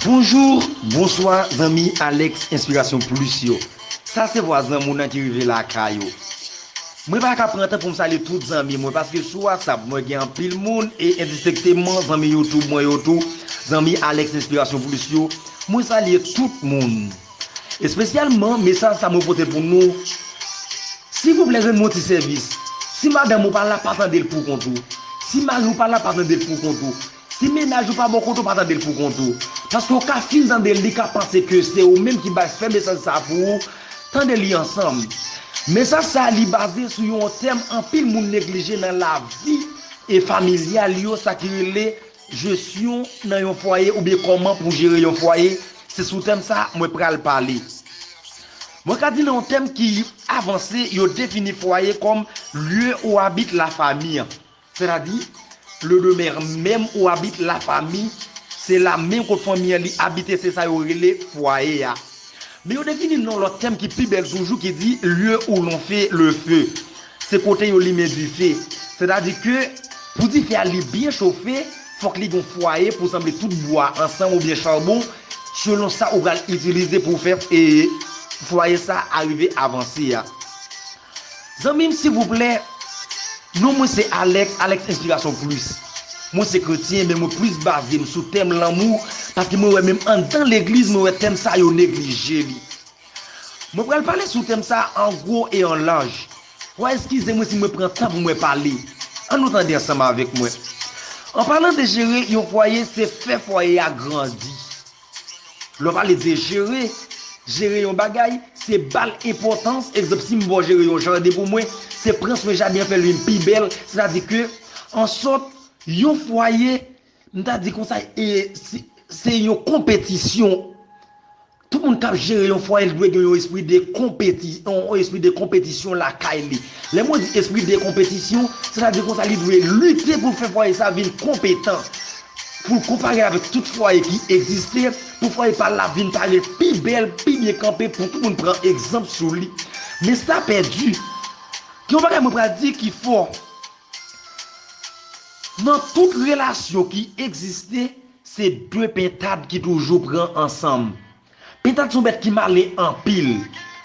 Bonjour bonswa zanmi Alex inspiration plus yo sa se vwa zanmou nan ki rive lakay ou mwen pa ka pran tan poum salye tout zanmi mwen paske sou whatsapp mwen gen anpil moun e endistekteman zanmi youtube mwen yo tou zanmi Alex inspiration plus yo mwen salye tout moun. Espesyalman mesaj sa mwen pote pou nou silvouplè rann mwen ti sèvis si madanm ou pa la pa tandel pou kont ou si mariw pa la pa tandel pou kont ou si mennaj ou pa bò kote w pa tandel pou kont ou paske ou ka fin tandel li ka panse ke se ou menm ki bay fè mesaj sa pou ou tande li ansanm mesaj sa li baze sou yon tèm anpil moun neglije nan lavi familyal yo sa ki rele Jesyon nan yon fwaye oubyen kòman pou jere yon fwaye, se sou tèm sa mwen pral pale. Mwen ka di nan yon tèm ki avanse yo defini fwaye kòm lieu ou habite la famille. Sètadi, le demeure meme ou habite la famille, se la menm kot fanmi an li abite se sa yo rele fwaye a. Men yo defini l nan yon lòt tèm ki pi bèl toujou ki di lieu où l'on fait le feu. Se kote yo limen dife. Sètadi ke pou dife a li byen chofe, fòk li gen yon fwaye pou sanble tout bwa ansanm oubyen charbon selon sa ou pral itilize pou w fè fwaye sa a rive avanse a. Zanmim silvouplè non mwen se Alex Alex inspiration plus mwen se kretyen men mwen plus bazem sou tèm lanmou paske mwen wè menm andan legliz mwen wè tèm sa yo neglije li mwen pral pale sou tèm sa an gwo e an laj wa eskize mwen si mwen pran tan pou mwen pale an nou tande ansanm avèk mwen an palan de jere yon fwaye se fè fwaye a grandi. Lè w pale de jere, jere yon bagay, se ba l enpòtans. Egzanp, si m ba w jere yon jaden pou mwen, se pran swen jaden an fè l vin pi bèl. Sètadi ke, ansòt, yon fwaye, m ta di konsa, se yon konpetisyon. Tout moun k ap jere yon fwaye l dwe gen yon espri de konpeti, yon espri de konpetisyon lakay li. Lè mwen di espri de konpetisyon, sètadi konsa li dwe lite pou l fè fwaye sa vin konpetan. Pou l konpare avèk tout fwaye ki egziste, pou fwaye pa l la vin pale pi bèl, pi byen kanpe pou tout moun pran egzanp sou li. Men sa pèdi. Gen yon bagay mwen pral di ki fò. Nan tout relasyon ki egziste, se de pentad ki toujou pran ansanm. Pitant son bèt ki male anpil.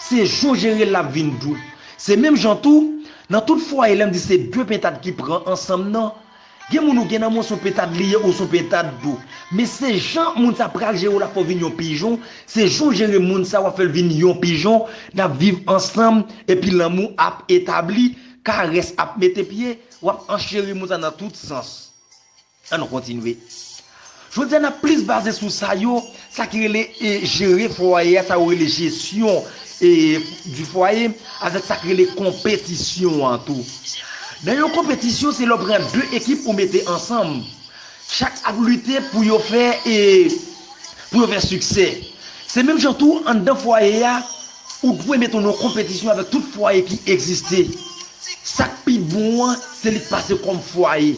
Se jou w jere l lap vin dou. Se menm jan tou, nan tout fwaye lè m di se de pentad ki pran ansanm nan, gen moun ou gen nan men w son pentad li ye ou son pentad tou. Men se jan moun sa pral jere w lap fè w vin yon pijon, se jan w jere moun sa wap fè l vin yon pijon, nap viv ansanm epi lanmou ap etabli, karès ap mete pye, wap ancheri moun sa nan tout sans. An nou kontinye. Jodi a n ap plis baze sou sa yo, sa ki rele jere fwaye a, sa yo rele jesyon di fwaye, avèk sa ki rele konpetisyon an tou. Nan yon konpetisyon se lè w pran 2 ekip ou mete ansanm. Chak ap lite pou yo fè e pou yo fè siksè. Se menm jan tou anndan fwaye a, ou dwe mete w nan yon konpetisyon avèk tout fwaye ki egziste. Sa k pi bon an, se li k pase kòm fwaye.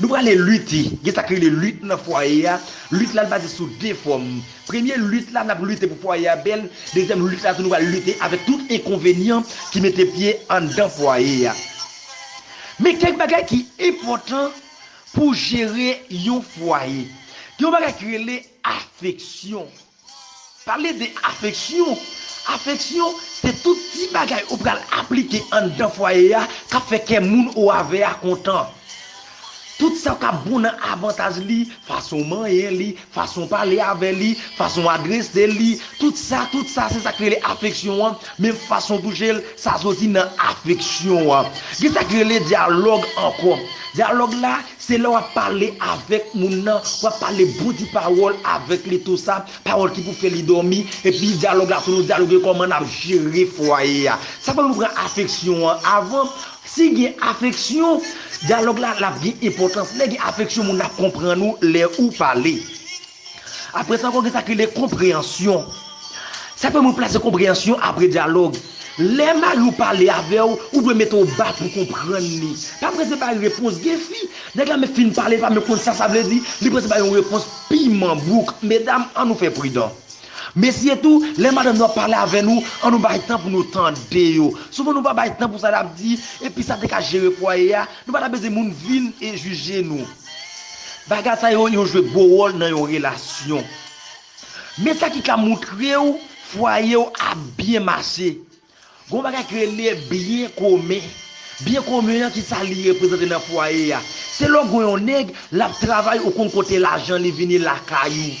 Nou prale lite. Gen sa ki rele lit nan fwaye a. Lit la baze sou 2 fòm. Premye lit la, n ap lite pou fwaye a bèl. Dezyèm lit la tou nou pral lite avèk tout enkonvenyan ki mete pye anndan fwaye a. Men kèk bagay ki enpòtan pou jere yon fwaye. Gen yon bagay ki rele afeksyon. Pale de afeksyon. Afeksyon se tout ti bagay ou pral aplike anndan fwaye a k ap fè kè moun ou avè a kontan. Tout sa k ap bon nan avantaj li, fason w manyen li, fason w pale avè li, fason w adrese li, tout sa, tout sa se sa k rele afeksyon an, menm fason w touche l, sa soti nan afeksyon an. Gen sa k rele dyalòg ankò. Dyalòg la, Se lè wap pale avèk moun nan, wap pale bon ti pawòl avèk li tou sa, pawòl ki pou fè li dòmi, epi dyalòg la tou nou dyaloge kòman nap jere fwaye a. Sa fè nou pran afeksyon an avan, si gen afeksyon, dyalòg la lap gen enpòtans, lè gen afeksyon moun ap konprann ou lè ou pale. Apre sa ankò gen sa ki rele konpreyansyon. Sa pèmèt ou plase konpreyansyon apre dyalòg. Lè mari w pale avè w, ou dwe mete w ba pou w konprann li. Pa prese bay repons. Gen fi, nèg la menm fin pale li pa menm konn sa sa vle di, li prese bay yon repons piman bouk. Medam, an nou fè pridan. Mesye tou, lè madanm nou ap pale avè nou, an nou bay tan pou nou tande yo. Souvan nou pa bay tan pou sa y ap di, epi sa te ka jere fwaye a, nou pa ta bezwen moun vin jije nou. Bagay sa yo, yo jwe gwo wòl nan yon relasyon. Men sa ki ka montre w fwaye w ap byen mache. Gen yon bagay ki rele byen komen. Byen komen an, ki sa li reprezante nan fwaye a? Se lè w gen yon nèg, l ap travay, ou konn kote lajan li vini lakay ou.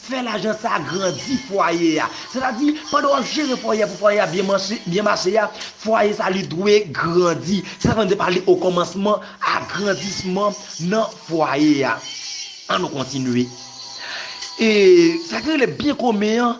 Fè lajan sa a grandi fwaye a. Sètadi, pandan w ap jere fwaye a pou fwaye a byen mache a, fwaye sa a li dwe grandi. Se sa k fè nou te pale okòmansman agrandisman nan fwaye a. Annou kontinye. E sa ki rele byen komen an.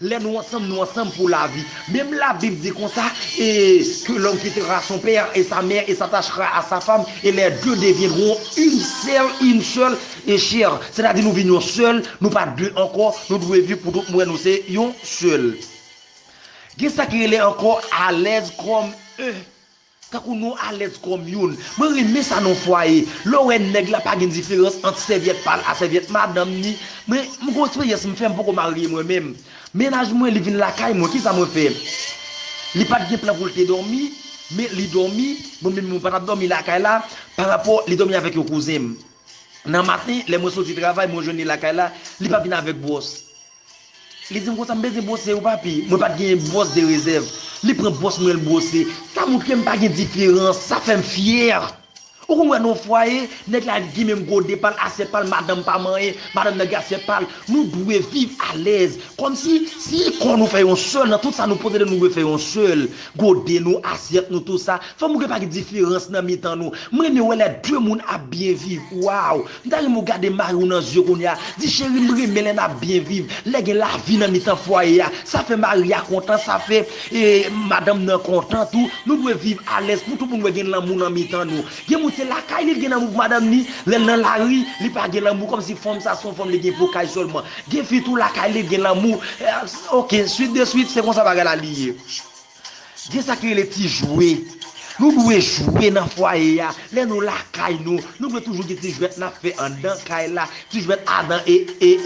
Lè nou ansanm nou ansanm pou lavi. Menm labib di konsa e que l'homme quittera son père et sa mère et s'attachera à sa femme et les deux deviendront une sèl une seule e chair sètadi nou vin yon sèl nou pa de ankò nou dwe viv pou tout mwen nou se yon sèl gen sa ki rele ankò alèz kòm e Tankou nou alèz kòm youn. Mwen renmen sa nan fwaye. Lè w wè nèg la pa gen diferans ant sèvyèt pa l a sèvyèt madanm ni. Mwen m gon eksperyans m fè m poko marye mwen menm. Mennaj mwen li vin lakay mwen kisa mwen fè? Li pa t gen plan pou l te dòmi men li dòmi, mwen menm mwen pa t ap dòmi lakay la parapò li dòmi avèk yon kouzen m. Nan maten, lè mwen soti travay, mwen jwenn li lakay la, li pa vin avèk bwòs. Li di m konsa, m bezwen bwose yo papi. Mwen pa t genyen bwòs de rezèv. Li pran bwòs mwen, l bwose. Sa montre m pa gen diferans. Sa fè m fyè. Ou konn wè nan yon fwaye, nèg la gen menm gode pa l, asyèt pa l, madanm pa manyen, madanm nan gen asyèt pa l. Nou dwe viv alèz. Kòmsi, si kò nou fè yon sèl, nan tout sa nou posede nou dwe fè yon sèl. Gode nou, asyèt nou, tout sa, Fanm ou gen pa gen diferans nan mitan nou. M renmen wè lè de moun ap byen viv waw. M ta renmen w gade mariw nan zye kounye a, di cheri m renmen lè nap byen viv, lè gen lavi nan mitan fwaye a. Sa fè mari a kontan, sa fè madanm nan kontan tou. Nou dwe viv alèz pou tout moun wè gen lanmou nan mitan nou. Gen moun se lakay li li gen lanmou pou madanm ni, lè l nan lari li pa gen lanmou kòmsi fanm sa se yon fanm li gen pou kay sèlman. Gen fi tou lakay li gen lanmou. Ok, swit de swit se konsa bagay la li ye. Gen sa ki rele ti jwe. Nou dwe jwe nan fwaye a. Lè nou lakay nou, nou dwe toujou gen ti jwèt n ap fè anndan kay la. Ti jwèt Adan e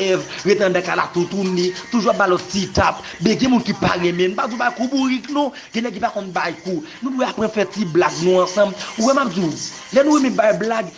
Èv rete anndan kay la toutouni. Toujou ap ba lòt ti tap. Ben gen moun ki pa renmen. M pa di w bay kou bourik non. Gen nèg ki pa konn bay kou. Nou dwe aprann fè ti blag nou ansanm. Ou wè m ap di w, lè nou renmen bay blag,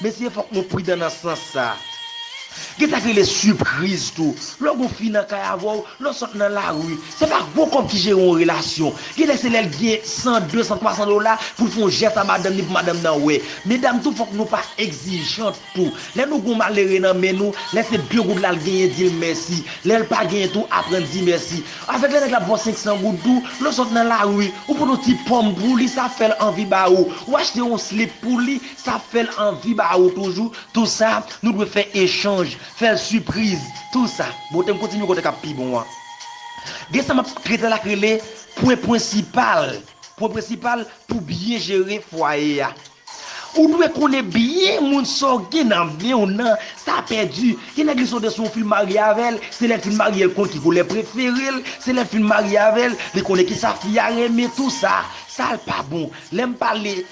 Mesye fòk nou pridan nan sans sa. Gen sa ki rele sipriz tou. Lè w gen yon fi nan kay avè w, lè w sot nan lari, se pa gwo kòb ki jere yon relasyon. Gen lè se lè l gen 100, 200, 300 dola pou l fè yon jès a madanm ni pou madanm nan wè. Medam tou fòk nou pa egzijant tou. Lè nou gen yon malere nan men nou, lè se 2 goud la l genyen di l mèsi. Lè l pa genyen tou aprann di mèsi. Avèk lè nèg la ap ba w 500 goud tou, lè w sot nan lari, ou pote yon ti ponm pou li sa fè l anvi ba ou. Ou achte yon slip pou li, Sa ap fè l anvi ba ou toujou tou sa nou dwe fè echanj, fè l sipriz tou sa. Bote m kontinye kote k ap pi bon an. Gen sa m ap trete la k rele pwen prensipal pwen prensipal pou byen jere fwaye a. Ou dwe konnen byen moun sa w gen nan men w nan sa pèdi. Gen nèg li sote sou w fin marye avè l, se lè l fin marye l konn ki koulè prefere l, se lè l fin marye avè l li konnen ki sa fi a renmen tou sa. Sa l pa bon. Lè m pale.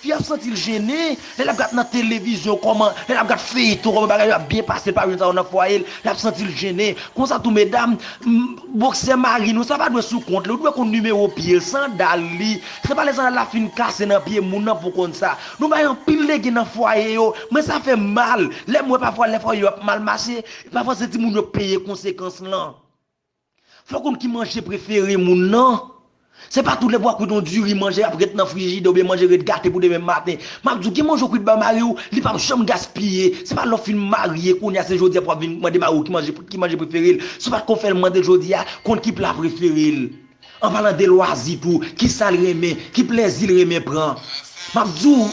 Fi a ap santi l jene lè l ap gad nan televizyon kòman, lè l ap gad feyton kòman bagay yo ap byen pase l pa jwenn sa yo nan fwaye l, l ap santi l jene. Konsa tou medam, boksè mari nou sa pa dwe sou kont li, ou dwe konn nimewo pye l, sandal li, se pa lè sandal la fin kase nan pye moun nan pou w konn sa. Nou bay anpil legen nan fwaye yo, mwen sa fè m mal lè m wè pafwa lè fwaye yo ap mal mache, pafwa se timoun yo k peye konsekans lan. Fè w konn ki manje prefere moun nan. Se pa tout lè pou a kwit yon diri manje ap ret nan frijidè oubyen manje ret gate pou demen maten. M ap di w gen manje ou kwit bay mari w li pap janm gaspiye. Se pa lè w fin marye kounye a se jodi a pou w ap vin mande mari w ki manje ki manje prefere l. Se pa t kon fè l mande l jodi a konn ki pla prefere l. An palan de lwazi tou, kisa l renmen, ki plèzi l renmen pran. M ap di w.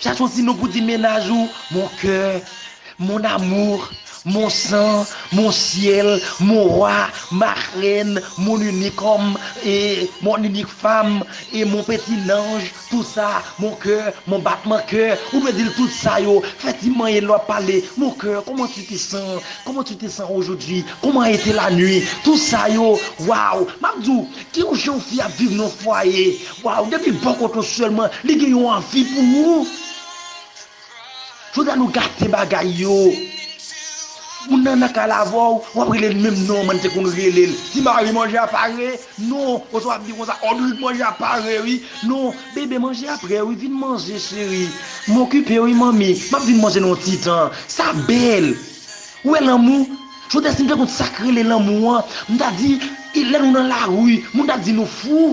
Chache yon ti non pou di mennaj ou, mon coeur, mon amour, mon sang, mon ciel, mon roi, ma reine, mon unique homme, mon unique femme, mon petit nanj, tout sa, mon coeur, mon battement coeur, ou dwe di l tout sa yo, fè ti manyen lè w ap pale, mon coeur, comment tu te sens, comment tu te sens aujourd'hui, comment a été la nuit, tout sa yo, waw, m ap di w, gen yon jan yon fi ap viv nan yon fwaye, Waw depi bò kote w selman li gen yon anvi pou ou Jodi a nou gate bagay yo Moun nan nan kal avè w wap rele l menm non man te konn rele l Ti mari manje a pare non oswa wap di konsa Odrik manje a pare wi non Bebe manje a prè wi vin manje cheri M okipe wi manmi map vin manje nan yon ti tan Sa bèl Ou wè lanmou Jodi a si m te konn sak rele lanmou an m ta di lè nou nan lari moun ta di nou fou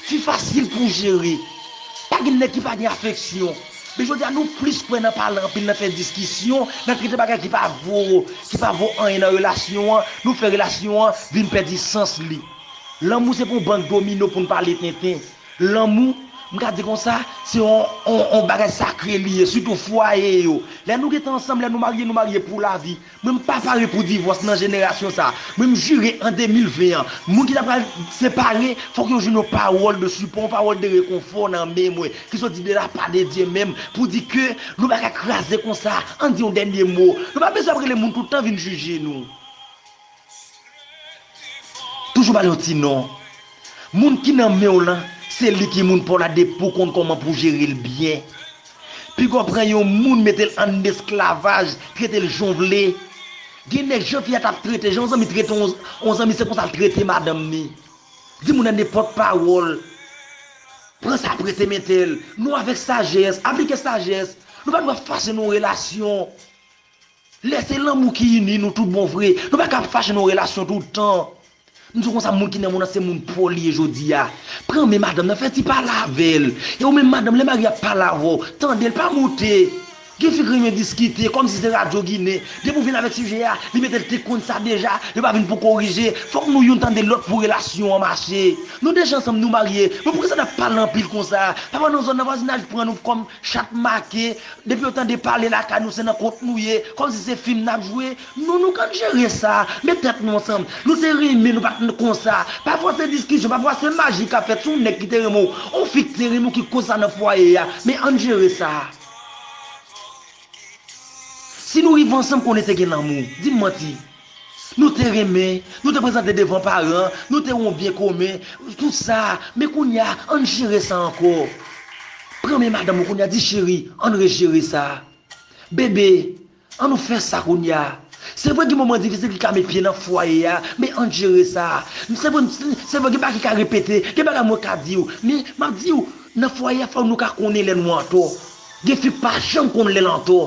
Fi fasil pou jere. Pa gen nèg ki pa gen afeksyon. Men jodi a nou plis kwè nan pale anpil, nan fè diskisyon, nan trete bagay ki pa vo, ki pa vo anyen nan relasyon an, nou fè relasyon an vin pèdi sans li. Lanmou se pa yon bank domino pou n pale tenten. Lanmou, m ka di konsa, se yon yon bagay sakre li ye, sitou fwaye yo. Lè nou gen tan ansanm, lè nou marye, nou marye pou lavi. Mwen m pa pare pou divòs nan jenerasyon sa. Mwen m jire an 2020 an, moun ki ta pral separe fòk yo jwenn yon pawòl de sipò, yon pawòl de rekonfò nan men mwen ki soti de la pa de Dye menm pou di ke nou pa ka kraze konsa, ann di yon dènye mo. Nou pa bezwen ap rele moun tout tan vin jije nou. Toujou bal yon ti non. Moun ki nan menw lan se li ki moun paw la depiw konn kòman pou jerel byen. Pigaw pran yon moun metel ann esklavaj, tretel janw vle. Gen nèg jan fi a tap trete, jan yon zanmi trete yon zanmi se konsal trete madanm ni. Di moun nan nenpòt pawòl. Pran sa prese metel. Nou avèk sajès, aplike sajès. Nou pa dwe fache nan yon relasyon. Lè se lanmou ki ini nou tout bon vre, nou pa ka ap fache nan yon relasyon tout tan. M di w konsa moun ki nan monn nan se moun po l ye jodi a. Pran men madanm nan, fè ti pale avè l. E ou menm madanm, lè mari a ap pale avè w, tande l, pa monte. Gen fi k renmen diskite, kòmsi se radyo ginen. Depi ou vin avèk sijè a, li mete l te konn sa deja, yo pa vin pou korije. Fòk nou youn tande lòt pou relasyon an mache. Nou deja ansanm, nou marye, men poukisa n ap pale anpil konsa? Papa nan zòn nan, vwazinaj pran nou kòm chat make. Depi yo tande pale lakay nou se nan kont nou ye, kòm si se fim nap jwe, non nou kan jere sa, met tèt nou ansanm, nou se renmen nou pa konn konsa, pafwa se diskisyon, pafwa se maji kap fèt si yon nèg ki te renmen w, yon fi ki te renmen w ki koz sa nan fwaye a, men ann jere sa. Si nou rive ansanm konnen te gen lanmou, dim manti, Nou te renmen, nou te prezante devan paran, nou te yon byen komen, tout sa, men kounye a, ann jere sa ankò. Pran men madanm ou kounye a, di cheri, ann rejere sa. Bebe, an nou fè sa kounye a. Se vre gen moman difisil ki ka met pye nan fwaye a, men ann jere sa. Se vre, se vre gen bagay ki ka repete, gen bagay mwen ka di ou, men m ap di ou, nan fwaye a fò nou ka konnen lè nou antò. Gen fi k pa janm konn lè l antò.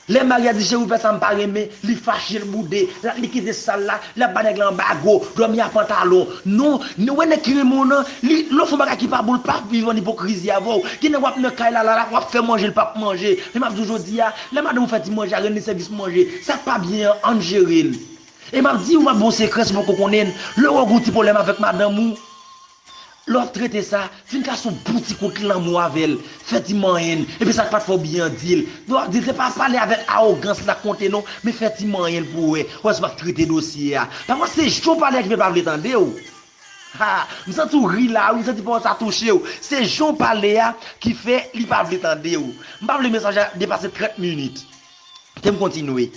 Lè Maria di Jérôme fè sam pa renmen li fache l boude lap li kite sal la lap ba nèg la anbago dòmi a pantalon non ni wè nèg ki renmen w nan li lè w fon bagay ki pa bon l pa viv an ipokrizi avè w gen nèg wap nan kay la la wap fè manje l pap manje men map di w jodi a lè madanm ou fè ti manje a rann li sèvis manje sak pa byen an ann jere l e map di w map ba w sekrè si w poko konnen l lè w wè w gen yon ti pwoblèm avèk madanm ou Lè w ap trete sa, fin kase yon bon ti kout lanmou avè l, fè ti manyen l, epi sa k pa t fè w byen an di l. Lè w ap di l, se pa pale avèk awogans la konte non, men fè ti manyen l pou w wè, wè si w ap trete dosye a. Pafwa se jan w pale ak li l pa vle tande w. Ha! M santi w ri la wi, m santi pawòl sa touche w. Se jan w pale a ki fè li pa vle tande w. M pa vle mesaj la depase 30 minit. Tem kontinye.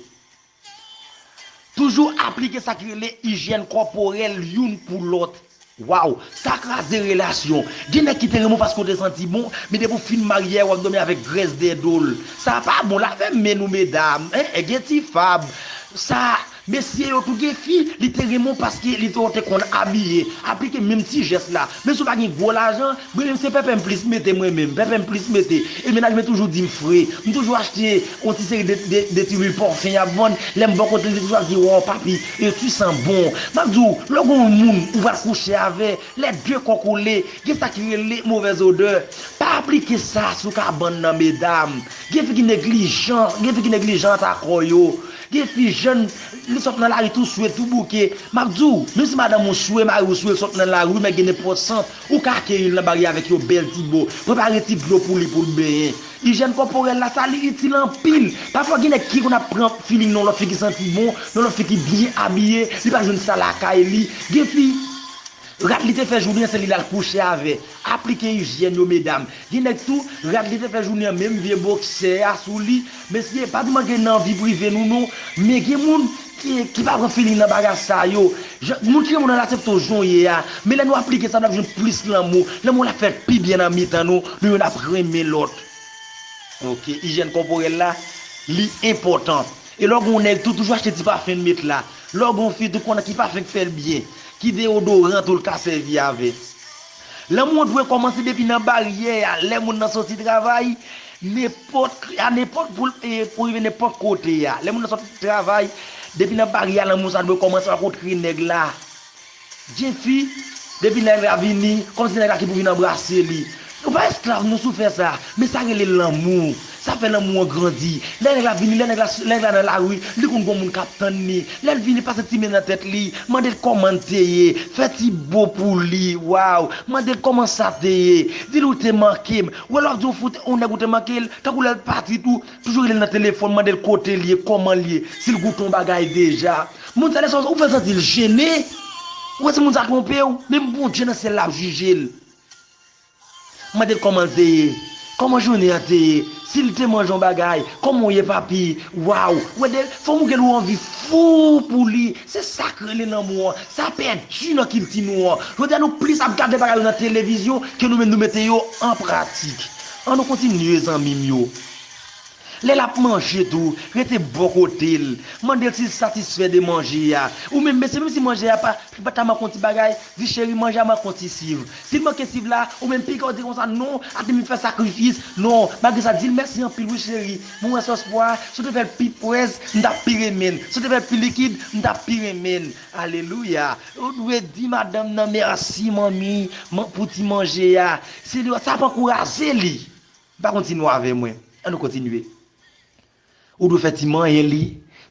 Toujou aplike sa ki rele ijyèn kòporèl youn pou lòt. Waww sa kraze relasyon. Gen nèg ki te renmen w paske w te santi bon, men depi w fin marye a wap dòmi avèk grès dèyè do l. Sa pa bon, lave men nou medam, eh gen ti fab. Sa, mesye yo tou gen fi, li te renmen w paske li te wè w te konn abiye. Aplike menm ti jès la. Menm si w pa gen gwo lajan, Bri m se pepe m plis mete mwen menm pepe m plis mete e mennaj mwen toujou di m fre m toujou achte yon ti seri de ti lwil pòfen y ap vann lè m bò kote l li toujou ap di wòw papi e tu san bon m ap di w lè gen yon moun ou pral kouche avè lè de kò kole gen sa ki rele movèz odè pa aplike sa sou kabann nan medam gen fi ki neglijan gen fi ki neglijan ata kò yo gen fi jèn li sot nan lari tou swe tou bouke m ap di w menm si madanm ou swe mari w swe l sot nan lari men gen nenpòt sant Ou ka akeyi l nan baryè avèk yon bèl ti bo, prepare ti dlo pou li pou l benyen. Ijyèn kòporèl la, sa li itil anpil. Pafwa gen nèg ki konn ap pran feeling nan yon lòt fi ki santi bon, yon lòt fi ki byen abiye, li pa jwenn sa lakay li. Gen fi, rad li te fè jounen an se li l al kouche avè. Aplike ijyèn yo medam. Gen nèg tou, rad li te fè jounen an menm vye boksè a sou li, mesye pa tou manke nan vi prive nou non, men gen moun ki ki pa pran feeling nan bagay sa yo, jan moun ki renmen w nan asepte w jan w ye a, men lè nou aplike sa nap jwenn plis lanmou, lanmou an ap fè pi byen nan mitan nou, nou youn ap renmen lòt. Ok ijyèn kòporèl la li enpòtan e lè w gen yon nèg tou toujou achte ti pafen l met la, lè w gen yon fi tou konnen ki pafen k fè l byen, ki deyodoran tou l ka sèvi avè. Lanmou an dwe kòmanse depi nan baryè a, lè moun nan soti travay, a nenpòt pou l rive nenpòt kote a. Lè moun nan soti travay, depi nan baryè a lanmou sa dwe kòmanse, w'ap kontre nèg la. Djefi, depi nèg la vini, kòm se nèg la ki pou vin anbrase li. Nou pa esklav, nou sou fè sa. Men sa rele lanmou. Sa fè lanmou an grandi. Lè nèg la vini, lè nèg la lè nèg la nan lari, li konn gon moun k ap tann li. Lè l vini, pase ti men nan tèt li, mande l kòman l te ye, fè ti bo pou li, waw, mande l kòman sa te ye, di l ou te manke m. Ou wè lè w ap di yon fi yon nèg ou te manke l, tankou lè l pati tou, toujou rele l nan telefòn, mande l kote l ye, kòman l ye, si l goute yon bagay deja. Moun sa lè sa ou fè l santi l jene, ou wè si moun sa twonpe w, menm Bondye nan syèl la ap jije l. M mande l kòman l te ye, kòman jounen an te ye, si l te manje yon bagay, kòman w ye papi, waww, ou wè de fanm ou gen l ou anvi fou pou li, se sa k rele lanmou an, sa pèdi nan kilti nou an, jodi a nou plis ap gade bagay yo nan televizyon ke nou menm nou mete yo an pratik. An nou kontinye zanmi m yo. Lè l ap manje tou, rete bò kote l. Mande l si l satisfè de manje a. Ou menm mesye, menm si manje a pa, li pa ta manke yon ti bagay, di cheri manje a manke yon ti siv. Si l manke siv la, ou menm piga w di l konsa, non, ate m fè sakrifis, non, malgre sa di l mèsi anpil wi cheri, mwen wè sòs pwa a, si w te fè l pi pwès, m t ap pi renmen l, si w te fè l pi likid, m t ap pi renmen l. Alelouya! Ou dwe di madanm nan mèsi manmi pou ti manje a. Se lè sa ap ankouraje li. Ou pa konn ti mo avè mwen. An nou kontinye. Ou dwe fè ti manyen li,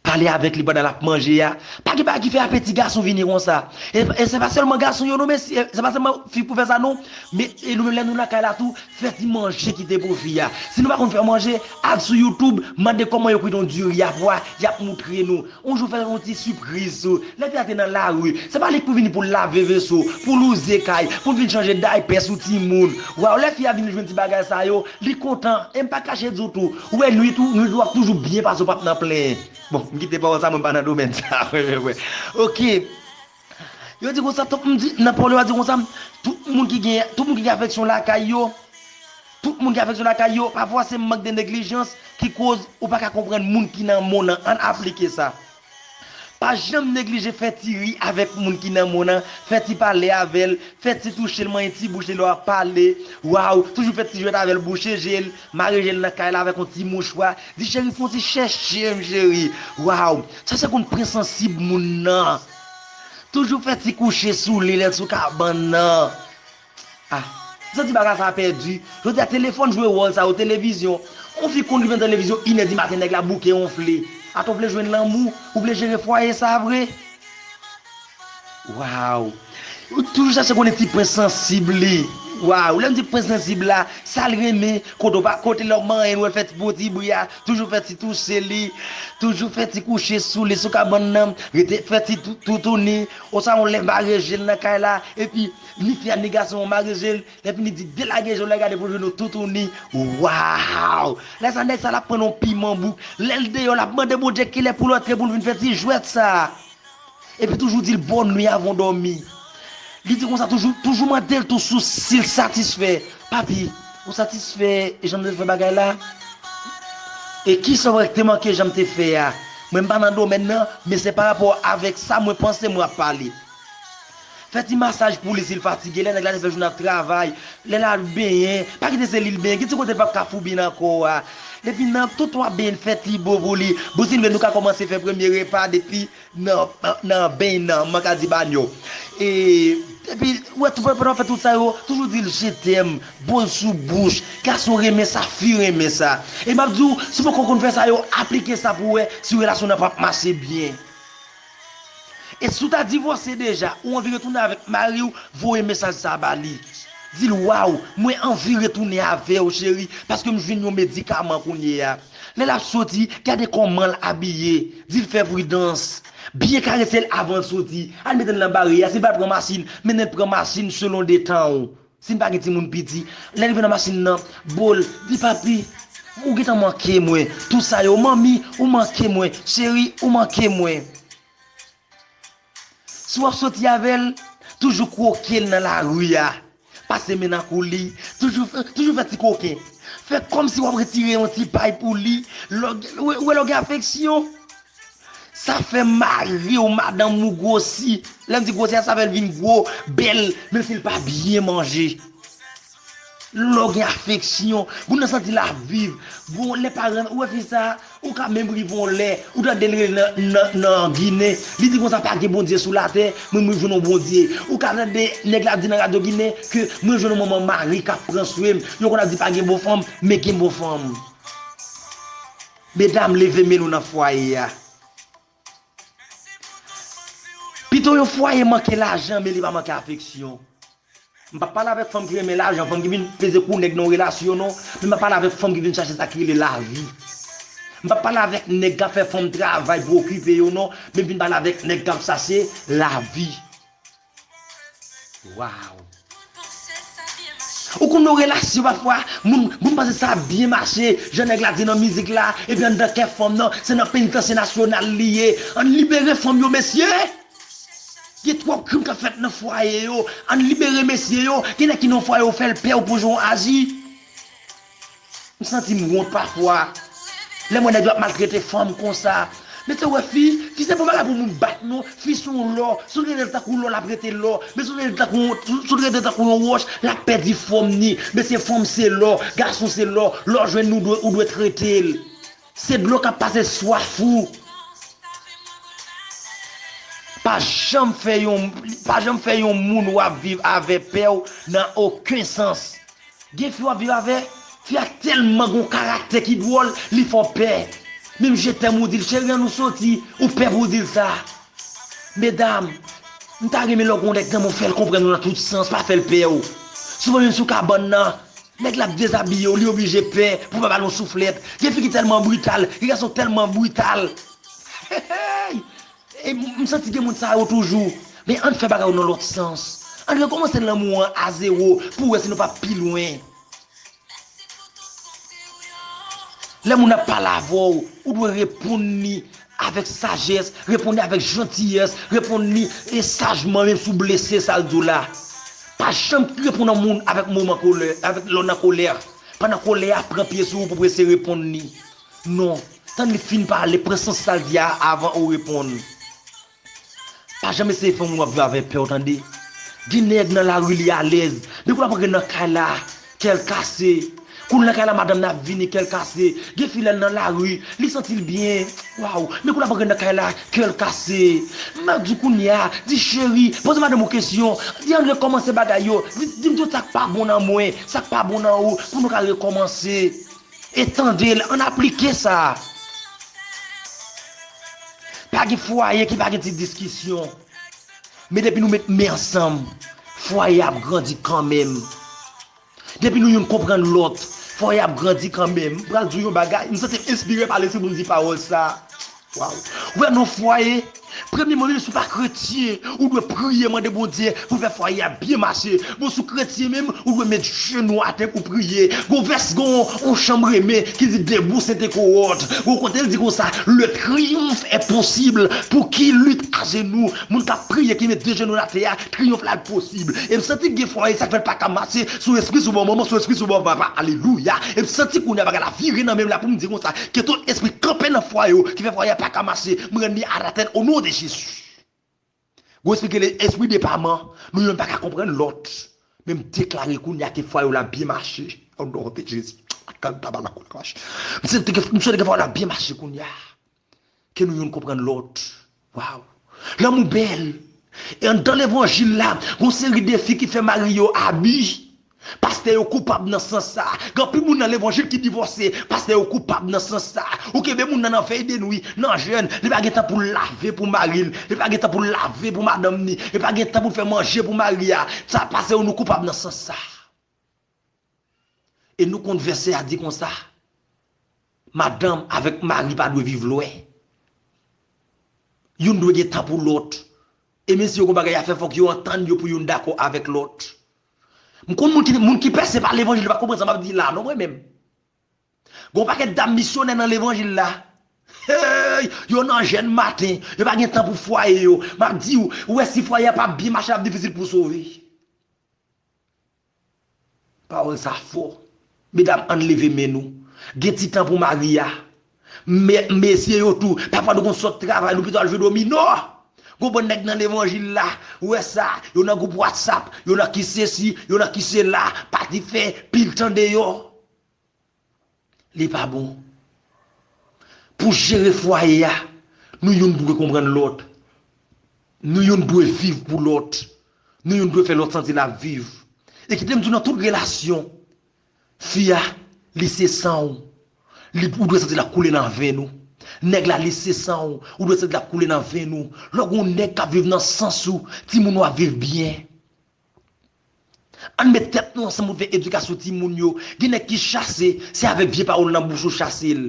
pale avèk li pandan l ap manje a. Pa gen bagay ki fè apeti gason vini konsa. E se pa sèlman gason yo non mesye, se pa sèlman fi pou fè sa non. Men e nou menm lè nou lakay la tou, fè ti manje ki te pou fi a. Si nou pa konn fè manje, al sou YouTube, mande kòman yo kwit yon diri a pwa, y ap moutre nou. On jou fèl on ti sipriz sou lè fi a te nan lari se pa li k pou vini poul lave veso poul wouze kay poul vin chanje daypè sou timoun waw lè fi a vin jwenn ti bagay sa yo li kontan e m pa kache di w tou ou wè nwit ou nwit ou ap toujou byen pase w pap nan plenyen bon m kite pawòl sa mwen pa nan domèn sa ok. Yo di konsa tout moun di Napoléon a di konsa tout moun ki gen tout moun ki gen afeksyon lakay yo tout moun ki gen afeksyon lakay yo pafwa se mank de neglijans ki koz ou pa ka konprann moun ki nan mond lan ann aplike sa pa janm neglije fè ti ri avèk moun ki nan mond lan fè ti pale avèl fè ti touche l manyen ti bouch li lè wap pale waw toujou fè ti jwèt avèl bouche je l Mare jel nan kay la avèk yon ti mouchwa, di cheri fon ti chèchem cheri, waw, sa se konn pwen sansib moun nan. Toujou fè ti kouche sou li lèl sou kabann nan. Ah, m santi bagay sa pèdi, jodi a telefòn jwe wòl sa yo, televizyon, yon fi konn rive nan televizyon inè di maten nèg la bouke wonfle. Atò w vle jwenn lanmou, ou vle jere fwaye sa vre? Waww ou toujou chache konnen ti prince sansib li waww lèm di prince sansib la sal renmen kote ou pa kote lèw manyen l wèl fè ti bon ti bri a toujou fè ti touche li toujou fè ti kouche sou li sou kabann nan rete fè ti toutouni oswa yon lè mare jel nan kay la epi ni fi a ni gason an mare jel epi li di delage je w lè gade pou jwenn yon toutouni waww lè sa nèg sa lap pran yon piman bouk lèl deyò lap mande Bondye kilè poul antre poul vin fè ti jwèt sa. Epi toujou di l bòn nwi avan w dòmi. Li di konsa toujou, toujou mande l tou sou si l satisfè. Papi, ou satisfè jan m te fè bagay la? E ki sa w kwè k te manke jan m te fè a? Mwen m pa nan domèn nan, men se pa rapò avèk sa mwen panse mwen ap pale. Fè ti masaj pou li si l fatige, lè nèg la te fè jounen ap travay, lè l al benyen, pa kite se li l benyen, gen ti kote l pap ka foubi nan kò a. Epi nan tout w ap benyen l fè ti bo pou li. Bon si n vle nou ka kòmanse fè premye repa depi. nan beny nan mwen ka di banyo e epi ou wè pandan wap fè tout sa yo toujou dil je t'aime bol sou bouch gason renmen sa fi renmen sa e map diw si poko konn fè sa yo aplike sa pou wè si relasyon nan pap mache byen e si ou ta divòse deja ou anvi retounen avèk mariw voye mesaj sa ba li dil waw mwen anvi retounen avèw cheri paskem jwenn yon medikaman kounye a. Lè l ap soti, gade kòman l abiye, di l fè pridans. Byen karese l avan l soti. Al mete l nan bare a, si l pa pran machin, mennen l pran machin selon detan ou. Si n pa gen timoun piti, lè l rive nan machin nan, bo l, di papi, ou gen tan manke mwen, tou sa yo, manmi, ou manke mwen, cheri, ou manke mwen. Si w ap soti avè l, toujou kwoke l nan lari a, pase men nan kou li, toujou fè ti koken, fè kòmsi w ap retire yon ti pay pou li, ou wè lè w gen afeksyon. Sa fè mari w, madanm ou gwosi, lè m di gwosi a sa fè l vin gwo, bèl, menmsi l pa byen manje. Lè w gen afeksyon, moun nan santi l ap viv. Gon lè paran, ou wè fi sa, ou ka menm rive yon lè, ou tande l rele nan ginen, li di konsa pa gen Bondye sou latè, mwen m rive jwenn yon Bondye. Ou ka tande nèg la ap di nan radyo ginen ke mwen jwenn yon manman mari k ap pran swen m. Yo konn ap di pa gen bon fanm, men gen bon fanm. Medam leve men nou nan fwaye a. Pito yon fwaye manke lajan men li pa manke afeksyon. M pa pale avèk fanm ki renmen lajan, fanm ki vin peze kou nèg nan yon relasyon non, men m ap pale avèk fanm ki vin chache sa ki rele lavi. M pa pale avèk nèg k ap fè fanm travay pou okipe yo non, men m vin pale avèk nèg k ap chache lavi. Waw. Ou konn yon relasyon pafwa moun moun panse sa ap byen mache jan nèg la di nan mizik la epi anndan kè fanm nan se nan penitansye nasyonal li ye ann libere fanm yo mesye gen twòp krim kap fèt nan fwaye yo ann libere mesye yo gen nèg ki nan fwaye ou fèl pè ou pou jan ou aji. M santi m wont pafwa lèm wè nèg yo ap maltrete fanm konsa mezanmi wè fi fi se bon bagay pou moun bat non fi son lò si w trete l tankou lò lap rete lò men si w trete l tankou si w trete l tankou yon wòch lap pèdi fòm ni mesye fanm se lò gason se lò lè w jwenn li ou dwe trete l se dlo kap pase swaf ou pa janm fè yon pa janm fè yon moun wap viv avè pè w nan oken sans Gen fi wap viv avè, fi a tèlman gon karaktè ki dwòl, li fè w pè. Menm je t'aime ou dil cheri an nou soti, ou pè pou w dil sa. Medam, m ta renmen lè w gen yon nèg nan men w fè l konprann ou nan tout sans, pa fè l pè w. Souvan menm sou kabann nan, nèg la ap dezabiye w, li oblije pè pou l pa ba l yon souflèt. Gen fi ki tèlman brital, gen gason k tèlman brital. Hehey! M santi gen moun sa yo toujou. Men ann fè bagay yo nan lòt sans. Ann rekòmanse lanmou an a zewo pou wè si nou pa pi lwen. Lè moun ap pale avè w, ou dwe reponn li avèk sajès, reponn li avèk jantiyès, reponn li sajman menm si w blese sa l di w la. Pa janm reponn yon moun avèk moman kolè, lè w nan kolè. Pandan kolè a pran pye sou ou pou w prese reponn li. Non, tann li fin pale, pran sans sa l di a avan ou reponn. Pa janm eseye fè moun w ap viv avè pè w tande. Gen nèg nan lari li alèz, depi l ap antre nan kay la, kè l kase. Kou l nan kay la madanm nan ap vini, kè l kase. Gen fi lè l nan lari, li santi l byen, waw, men kou l ap antre nan kay la, kè l kase. M ap di kounya, di cheri, poze madanm ou kesyon, di ann rekòmanse bagay yo, di m tout sa k pa bon nan mwen, sa k pa bon nan ou, pou nou ka rekòmanse. E tande l, an n aplike sa. Pa gen fwaye ki pa gen ti diskisyon. Men depi nou met men ansanm, fwaye a ap grandi kanmenm. Depi nou youn konprann lòt, fwaye a ap grandi kanmenm. M pral di w yon bagay, m santi m enspire pale si moun di pawòl sa. Waww wè non fwaye premye man menm si w pa kretyen ou dwe priye mande bondye pou fè fwaye a byen mache bon si w kretyen menm ou dwe met jenou w atè pou w priye gon vès gon on chan m renmen ki di debout se te kowòt gon kote l di konsa le triomphe est possible pou ki lit ajenou moun kap priye ki met de jenou l atè a triomphe la posib e m santi gen fwaye sa k fè l paka mache son espri sou bò manman son espri sou bò papa alelouya e m santi kounye a bagay la vire nan men m la pou m di konsa Ke tout espri kanpe nan fwaye yo ki fè fwaye a paka mache m rann li anatèn onon de jezi Gon espri ki rele espri depaman nou youn paka konprann lòt men m deklare kounya ke fwaye w la ap byen mache onon de jezi M swete ke fwaye w la ap byen mache kounya ke nou youn konprann lòt. Waw! Lanmou bèl! E anndan levanjil la, gon seri de fi ki fè mari yo abi. Pastè yo koupab nan sans sa. Gen anpil moun nan levanjil ki divòse. Pastè yo koupab nan sans sa. Ou kenbe moun nan nan vèy de nwi, nan jèn, li pa gen tan pou l lave pou mari l, li pa gen tan pou l lave pou madanm ni, li pa gen tan pou l fè manje pou mari a. Sa pasew nou koupab nan sans sa. E nou konn vèsè a di konsa, Madanm avèk mari pa dwe viv lwen. Youn dwe gen tan pou lòt. E menmsi yo gen bagay y ap fè, fòk yo antann yo pou youn dakò avèk lòt. M konn moun ki pèse pa levanjil, yo pa konprann sa m ap di la a non mwen menm. Gen yon pakèt dam misyonè nan levanjil la. Hey! Yo nan jèn maten, yo pa gen tan pou fwaye yo. M ap di ou, ou wè si fwaye a pa byen mache l ap difisil pou w sove. Pawòl sa fò. Medam ann leve men nou. Gen ti tan pou Maria. Mesye yo tou. Pafwa nou konn sot travay nou pito al jwe domino. Gon bann nèg nan levanjil la. Ou wè sa. Yo nan gwoup whatsapp. Yo nan ki sesi. Yo nan ki sela. Pati fè pil tan deyò. Li pa bon. Pou jere fwaye a, nou youn dwe konprann lòt. Nou youn dwe viv pou lòt. Nou youn dwe fè lòt santi n ap viv. E kite m di w nan tout relasyon, fi a, li se san w. Li, ou dwe santi l ap koule nan venn ou. Nèg la, li se san w. Ou dwe santi l ap koule nan venn ou. Lè w gen yon nèg k ap viv nan sans ou, timoun ou ap viv byen. Ann met tèt nou ansanm pou n fè edikasyon timoun yo. Gen nèg ki chase, se avèk vye pawòl nan bouch ou chase l.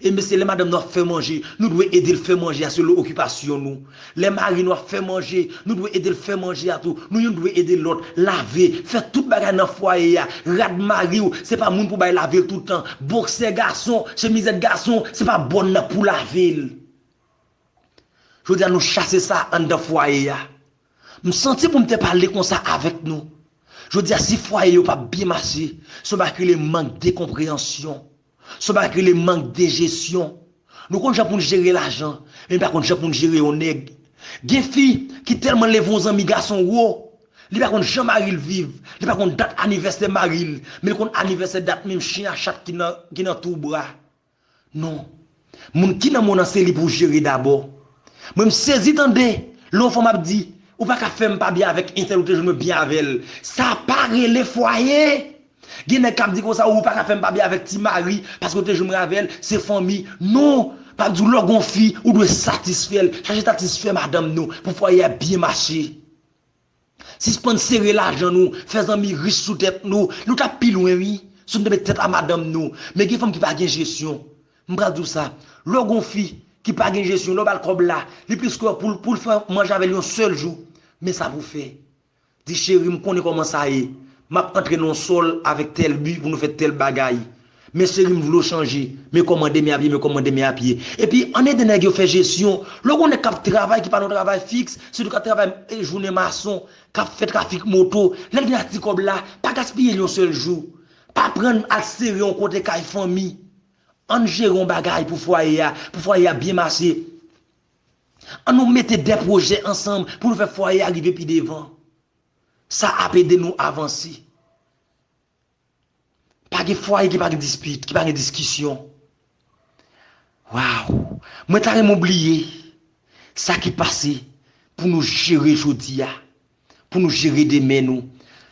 E mesye lè madanm nou ap fè manje, nou dwe ede l fè manje a selon okipasyon nou. Lè mari nou ap fè manje, nou dwe ede l fè manje a tou. Nou youn dwe ede lòt, lave, fè tout bagay nan fwaye a. Rad mari w, se pa moun pou bay lave l tout tan. Boksè gason, chemizèt gason, se pa bon nan pou lave l. Jodi a nou chase sa anndan fwaye a. M santi pou m te pale konsa avèk nou jodi a si fwaye yo pa byen mache se yon bagay ki rele mank de konpreyansyon se yon bagay ki rele mank de jesyon nou konn jan pou n jere lajan men n pa konn jan pou n jere yon nèg gen fi ki tèlman leve yon zanmi gason wo li pa konn jan mari l viv li pa konn dat anivèsè mari l men l konn anivèsè dat menm chen a chat ki nan twou bra. Non. Moun ki nan mond an se li pou jere dabò. Mwen m sezi tande lè yon fanm ap di ou pa ka fè m pa byen avèk entèl ou te jwenn mwen byen avè l. Sa pa rele fwaye! Gen nèg k ap di konsa ou pa ka fè m pa byen avèk ti mari paske ou te jwenn mwen avè l, se fanmi. Non! M ap di w lè w gen yon fi ou dwe satisfè l, chache satisfè madanm nou pou fwaye a byen mache. Sispann sere lajan nou, fè zanmi rich sou tèt nou, nou tap pi lwen wi, si nou te met tèt a madanm nou, men gen fanm ki pa gen jesyon, m pral di w sa, lè w gen yon fi ki pa gen jesyon, lè w bal kòb la, li plis kwè pou l fè manje avèl yon sèl jou, men sa pou fè, di cheri m konnen kòman sa ye, map antre nan yon sòl avèk tèl bi pou nou fè tèl bagay. Men cheri m vlew chanje. Men koman demen ap ye men koman demen ap ye. Epi ann ede nèg yo fè jesyon. Lè w gen yon nèg kap travay ki pa nan yon travay fiks, sitou kap travay jounen mason, kap fè trafik moto, lèl gen ak ti kòb la, pa gaspiyel yon sèl jou. Pa prann al sere yon kote kay fanmi. Ann jere yon bagay pou fwaye a, pou fwaye a byen mache. An nou mete de pwojè ansanm pou nou fè fwaye a rive pi devan. Sa ap ede nou avanse. Pa gen fwaye ki pa gen dispit, ki pa gen diskisyon. Waw, mwen ta renmen w bliye sa ki pase pou nou jere jodi a, pou nou jere demen nou.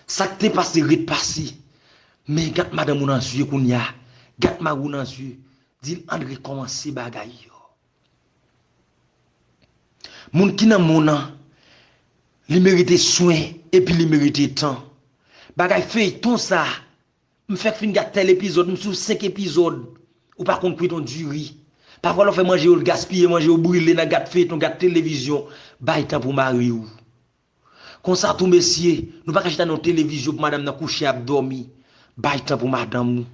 Sa k te pase ret pase. Men gad madanm ou nan zye kounya, gad mari w nan zye, di l ann rekòmanse bagay yo. Moun ki nan moun an li merite swen epi li merite tan bagay feyton sa m fèk fin gad tel epizòd m sou 5 epizòd ou pa konn kwiton diri pafwa lè w fè manje yo l gaspiye manje yo brile nan gad feyton gad televizyon bay tan pou mariw Konsa tou mesye, nou pa ka chita nan yon televizyon pou madanm nan kouche ap dòmi. Bay tan pou madanm ou.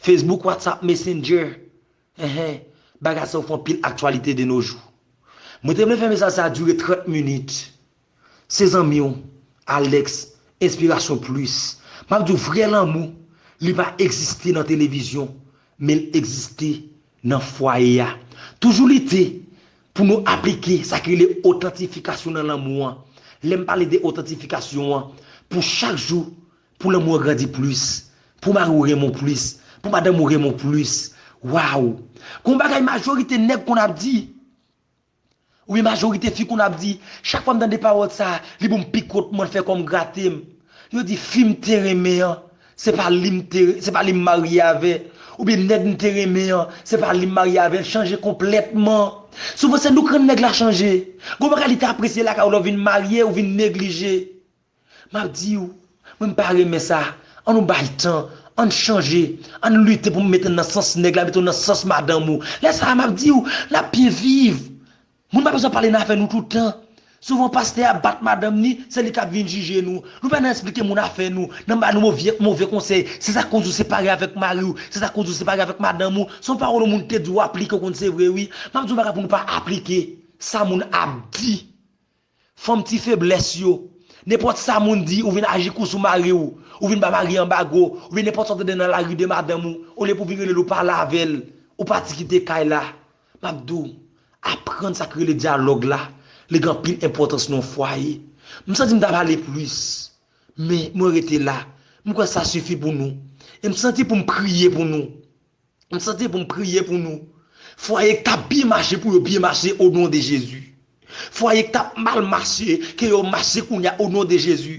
Facebook, WhatsApp, Messenger, ehe, bagay sa yo fè anpil aktyalite de no jou. Mwen te vle fè mesaj sa dire 30 minit. Se zanmi w, Alex, Inspiration Plus. M ap di w vrè lanmou, li pa egziste nan televizyon, men l egziste nan fwaye a. Toujou lite pou nou aplike sa ki rele otantifikasyon nan lanmou an. Lè m pale de otantifikasyon an, pou chak jou pou lanmou an grandi plis, pou mari w renmen w plis, pou madanm ou renmen w plis. Waww! Gon bagay majorite nèg konn ap di, Wi majorite fi kounye a ap di, chak fwa m tande pawòl sa, li bon m pi kont mwen l fè kò m grate m. Yo di fi m te renmen an, se pa li m te, se pa li m marye avè, oubyen nèg m te renmen an, se pa li m marye avè l chanje konplètman. Souvan se nou k rann nèg la chanje. Gon bagay li te apresye lakay ou lè w vin marye, ou vin neglije. Map diw, mwen mpa renmen sa, an nou bay tan, ann chanje, ann lite pou mete'n nan sans nèg la mete'w nan sans madanm ou, lè sa map diw, nap byen viv, moun pa bezwen pale nan afè nou tout tan, souvan pastè a bat madanm ni, se li kap vin jije nou, nou pa nan esplike moun afè nou, nan ba nou movyè move konsèy, se sak koz ou separe avèk mariw, se sak koz ou separe avèk madanm ou, son pawòl yon moun te di ou aplike ou konn se vre wi, map diw bagay pou nou pa aplike sa moun ap di, Fanm ti feblès yo. Nenpòt sa moun di ou vin aji kou sou mari w, ou vin ba mari an anbago, oubyen nenpòt sa w tande nan lari de madanm ou, olye pou vin rele l ou pale avè l, ou pati kite kay la. M ap di w, aprann sa ki rele dyalòg la, li gen anpil enpòtans nan yon fwaye. M santi m ta pale plis, men mwen rete la. M kwè sa sifi pou nou. E m santi pou m priye pou nou. M santi pou m priye pou nou. Fwaye k tap byen mache pou yo byen mache o non de Jezi. Fwaye k tap mal mache ke yo mache kounya o non de Jezi.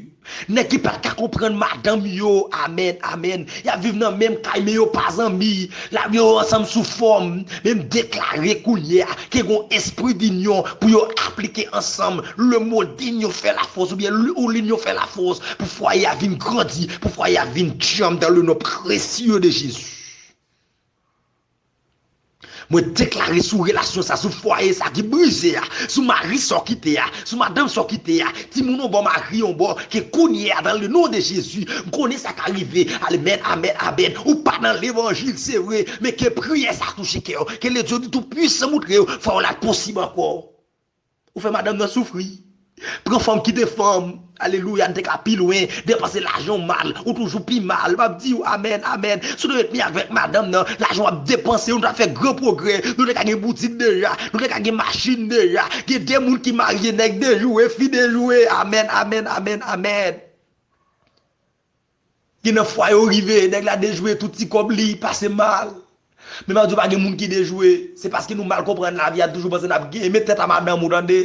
Nèg ki pat ka konprann madanm yo amèn amèn yap viv nan menm kay men yo pa zanmi la yo ansanm sou fòm men m deklare kounye a ke gon espri dinyon pou yo aplike ansanm le mo dinyon fè la fòs oubyen l ou linyon fè la fòs pou fwaye a vin grandi pou fwaye a vin djanm dan le non presye de Jezi. Mwen deklare sou relasyon sa, sou fwaye sa ki brize a, sou mari sa w kite a, sou madanm sa w kite a, timoun yon bò mari yon bò, ke kounye a dan le non de Jezi, m konnen sa ka rive, almèn amèn amèn, ou pa nan levanjil se vre, men ke priyè sa touche kè w, ke le Dieu du tout puissant moutre w fwa w la posib ankò. Ou fè madanm nan soufri. Pran fanm kite fanm. Alelouya n te ka pi lwen, depanse lajan w mal, ou toujou pi mal, map diw amen amen, si w te met miyake avèk madanm nan, lajan wap depanse yo nou ta fè gran pwogrè, nou te ka gen boutik deja, nou te ka gen machin deja, gen de moun ki marye nèg dejouwe fi dejouwe amen amen amen amen. Gen nan fwa yo rive, nèg la dejwe tout ti kòb li, pase mal. Men map di w pa gen moun ki dejwe, se paske nou mal konprann lavi a, nou toujou panse nap genyen, met tèt a madanm ou tande.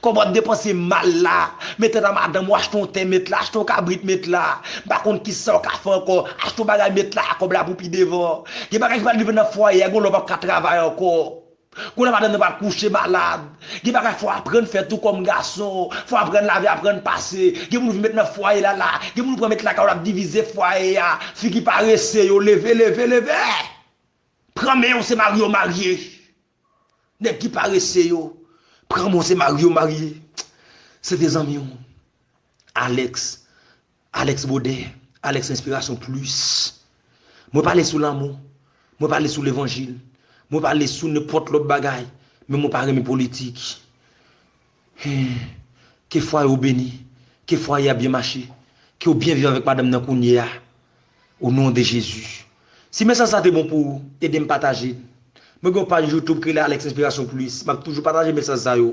Kòb wap depanse mal la, met tèt a madanm ou, achte yon tè met la, achte yon kabrit met la, m pa konn kisaw ka fè ankò, achte yon bagay met la, kòb la pou pi devan. Gen bagay ki pa rive nan fwaye a, gen yon lè wap ka travay ankò. Kounye a madanm nan pral kouche malad, gen bagay fò aprann fè tou kòm gason, fò aprann lave, aprann pase, gen moun vin met nan fwaye la la, gen moun pran met lakay ou lap divize fwaye a, figi parese yo leve leve leve! Pran men yo se mari yo marye, nèg ki parese yo, pran men w se mari yo marye, se te zanmi w Alex. Alex Bodè, Alex Inspiration Plus Mwen pale sou lanmou, mwen pale sou levanjil, mwen pale sou nenpòt lòt bagay men mwen pa renmen politik Hum Ke fwaye w beni, ke fwaye a byen mache, ke w byen viv avèk madanm nan kounye a O non de Jezi Si mesaj sa te bon pou ou, ede m pataje l Mwen gen yon paj YouTube ki rele Alex Inspiration Plus, m ap toujou pataje mesaj sa yo